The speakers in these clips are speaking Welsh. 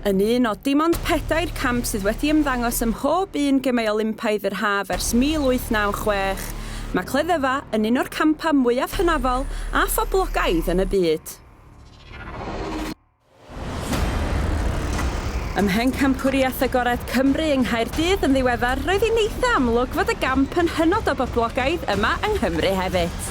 Yn un o dim ond pedair camp sydd wedi ymddangos ym mhob un Gemau Olympaidd yr Haf ers 1896, mae cleddyfa yn un o'r campau mwyaf hynafol a phoblogaidd yn y byd. Ym Mhencampwriaeth Agored Cymru yng Nghaerdydd yn ddiweddar, roedd hi'n eitha' amlwg fod y gamp yn hynod o boblogaidd yma yng Nghymru hefyd.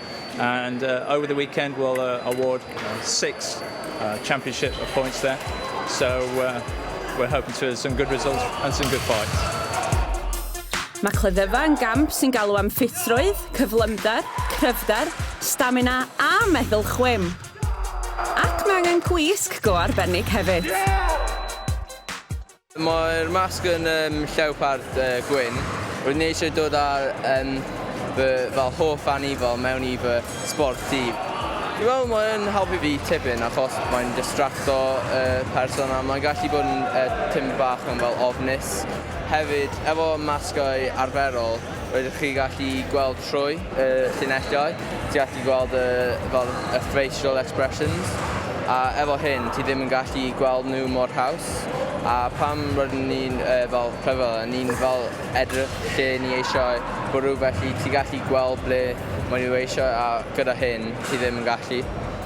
And uh, over the weekend we'll uh, award uh, six uh, championship points there. So uh, we're hoping to have some good results and some good fights. Mae cleddyfa yn gamp sy'n galw am ffitrwydd, cyflymder, cryfder, stamina a meddwl chwim. Ac mae angen gwisg go arbennig hefyd. Yeah! Mae'r masg yn llewpard gwyn. Roeddwn i eisiau dod â fy fel hoff anifal mewn i fy sbort dydd. Dwi'n meddwl mae yn helpu fi tipyn achos mae'n distracto y person a mae'n gallu bod yn tipyn bach yn fel ofnus. Hefyd, efo masgau arferol, Rydych chi gallu gweld trwy y llinellau, ti gallu gweld y, fel, y facial expressions, a efo hyn ti ddim yn gallu gweld nhw mor haws, a pam rydyn ni'n, uh, fel, clever, a ni'n, fel, edrych lle ni eisiau bwrw, felly ti gallu gweld ble maen nhw eisiau, a gyda hyn ti ddim yn gallu.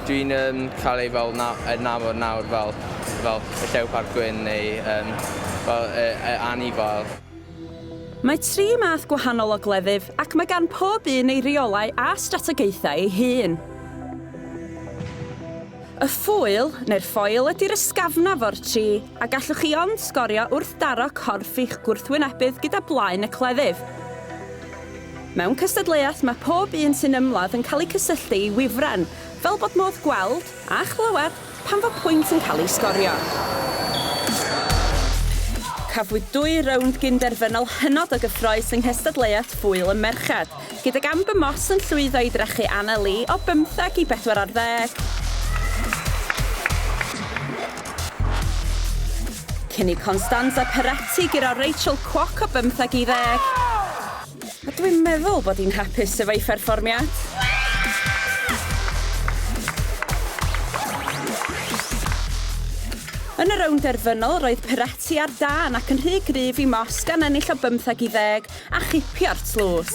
Dwi'n um, cael ei fel na, adnabod nawr fel, fel y llewpart gwyn neu um, fel y, y anifail. Mae tri math gwahanol o gleddyf ac mae gan pob un ei reolau a strategaethau ei hun. Y ffŵyl, neu'r ffoil, ydy'r ysgafnaf o'r tri, a gallwch chi ond sgorio wrth daro corff i'ch gwrthwynebydd gyda blaen y cleddyf. Mewn cystadleuaeth mae pob un sy'n ymladd yn cael eu cysylltu i wifren, fel bod modd gweld, a chlywed, pan fo pwynt yn cael ei sgorio. Cafwyd dwy rownd gyn-derfynol hynod o gyffrous yng nghystadleuaeth Ŵyl y Merched, gydag Amber Moss yn llwyddo i drechu Anna Lee o bymtheg i bedwar ar ddeg, cyn i Constanza Peretti guro Rachel Kwok o bymtheg i ddeg. A dwi'n meddwl bod hi'n hapus efo'i pherfformiad. Yn y rownd derfynol, roedd Peretti ar dân ac yn rhy gryf i Moss gan ennill o bymtheg i ddeg a chipio'r tlws.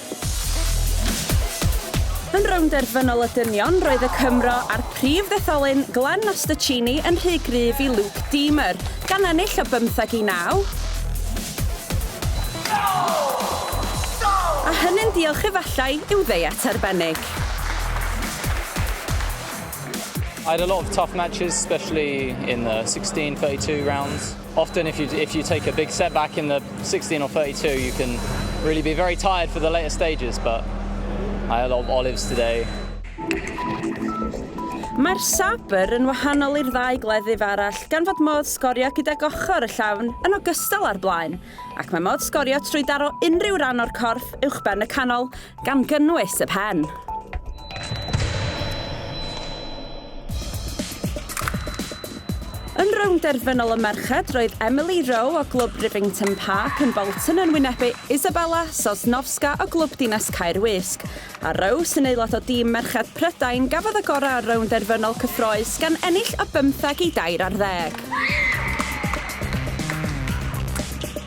Yn rownd derfynol y dynion, roedd y Cymro a'r prif ddetholyn, Glenn Masterchini, yn rhy gryf i Luke Deamer, gan ennill o bymtheg i naw, a hynny'n diolch efallai i'w ddeiet arbennig. I had a lot of tough matches, especially in the 16, 32 rounds. Often if you if you take a big setback in the 16 or 32 you can really be very tired for the later stages but I had a lot of olives today. Mae'r Sabre yn wahanol i'r ddau gleddyf arall gan fod modd sgorio gydag ochr y llafn yn ogystal â'r blaen, ac mae modd sgorio trwy daro unrhyw ran o'r corff uwchben y canol Gan gynnwys y pen. Yn rownd derfynol y merched, roedd Emily Rowe o glwb Rivington Park yn Bolton yn wynebu Isabella Sosnowska o glwb dinas Caer Wisg, a Rowe sy'n aelod o dîm merched Prydain gafodd y gorau ar rownd derfynol cyffroes gan ennill o bymtheg i dair ar ddeg.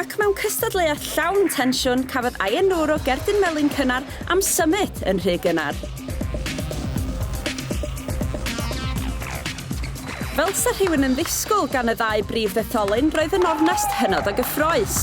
Ac mewn cystadleuaeth llawn tensiwn, cafodd Ayan Noor o Gerdyn Melin cynnar am symud yn rhy gynnar. Fel 'sa rhywun yn ddisgwyl gan y ddau brif ddetholyn, roedd yn ornest hynod o gyffrous.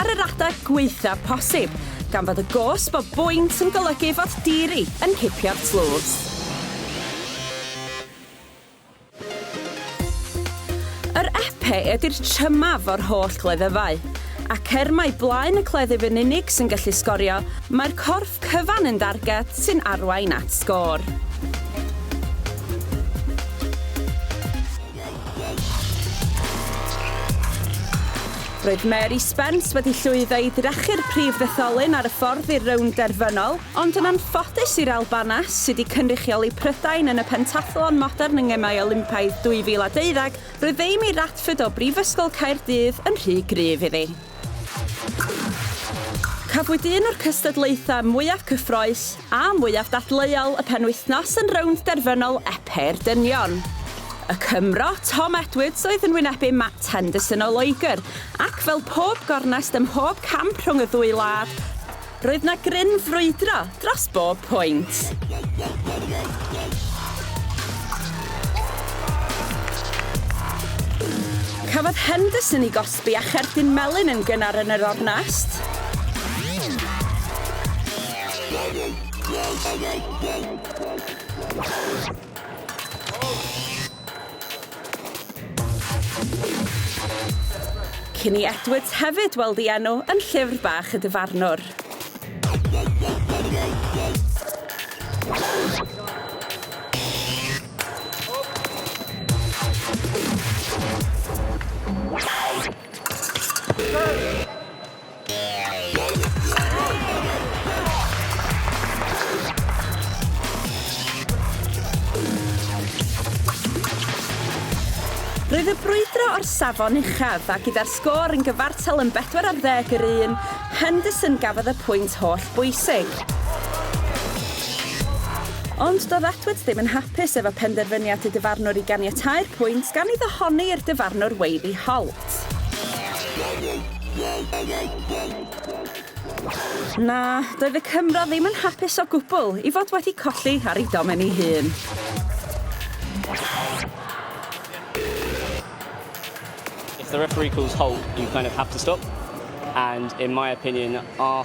ar yr adeg gwaethaf posib, gan fod y gosb o bwynt yn golygu fod Deary yn cipio'r tlws. Yr Epee ydy'r trymaf o'r holl gleddyfau, ac er mai blaen y cleddyf yn unig sy'n gallu sgorio, mae'r corff cyfan yn darged sy'n arwain at sgôr. Roedd Mary Spence wedi llwyddo i drechu'r prif fetholyn ar y ffordd i'r rownd derfynol, ond yn anffodus i'r Albanes, sydd wedi cynrychioli Prydain yn y pentathlon modern yng Ngemau Olympaidd 2012, roedd Amy Radford o Brifysgol Caerdydd yn rhy gryf iddi. Cafwyd un o'r cystadlaethau mwyaf cyffroes a mwyaf dadleuol y penwythnos yn rownd derfynol Epêr Dynion. Y Cymro, Tom Edwards oedd yn wynebu Matt Henderson o Loegr ac fel pob gornest ym mhob camp rhwng y ddwy wlad, Roedd 'na gryn frwydro dros bob pwynt. Cafodd Henderson ei gosbi a cherdyn melyn yn gynnar yn yr ornest. Cinnie Edwards hefyd weld ei enw yn Llyfr Bach y Dyfarnwr. Roedd y brwydro o'r safon uchaf a gyda'r sgôr yn gyfartal yn bedwar ar ddeg yr un, Henderson gafodd y pwynt holl bwysig. Ond doedd Atwoods ddim yn hapus efo penderfyniad y dyfarnwr i ganiatáu'r pwynt gan iddo honni i'r dyfarnwr weiddi hol. Na, doedd y Cymro ddim yn hapus o gwbl i fod wedi colli ar ei domen ei hun. If the referee calls halt, you kind of have to stop. And in my opinion, our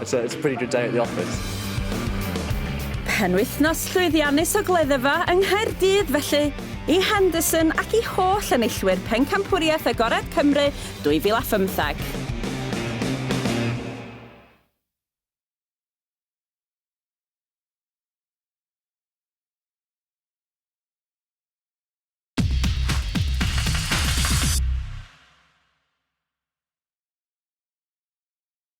It's a, it's a pretty good day at the office. Penwythnos llwyddiannus o gleddyfa yng Nghaerdydd felly, i Henderson ac i holl enillwyr Pencampwriaeth Agored Cymru 2015.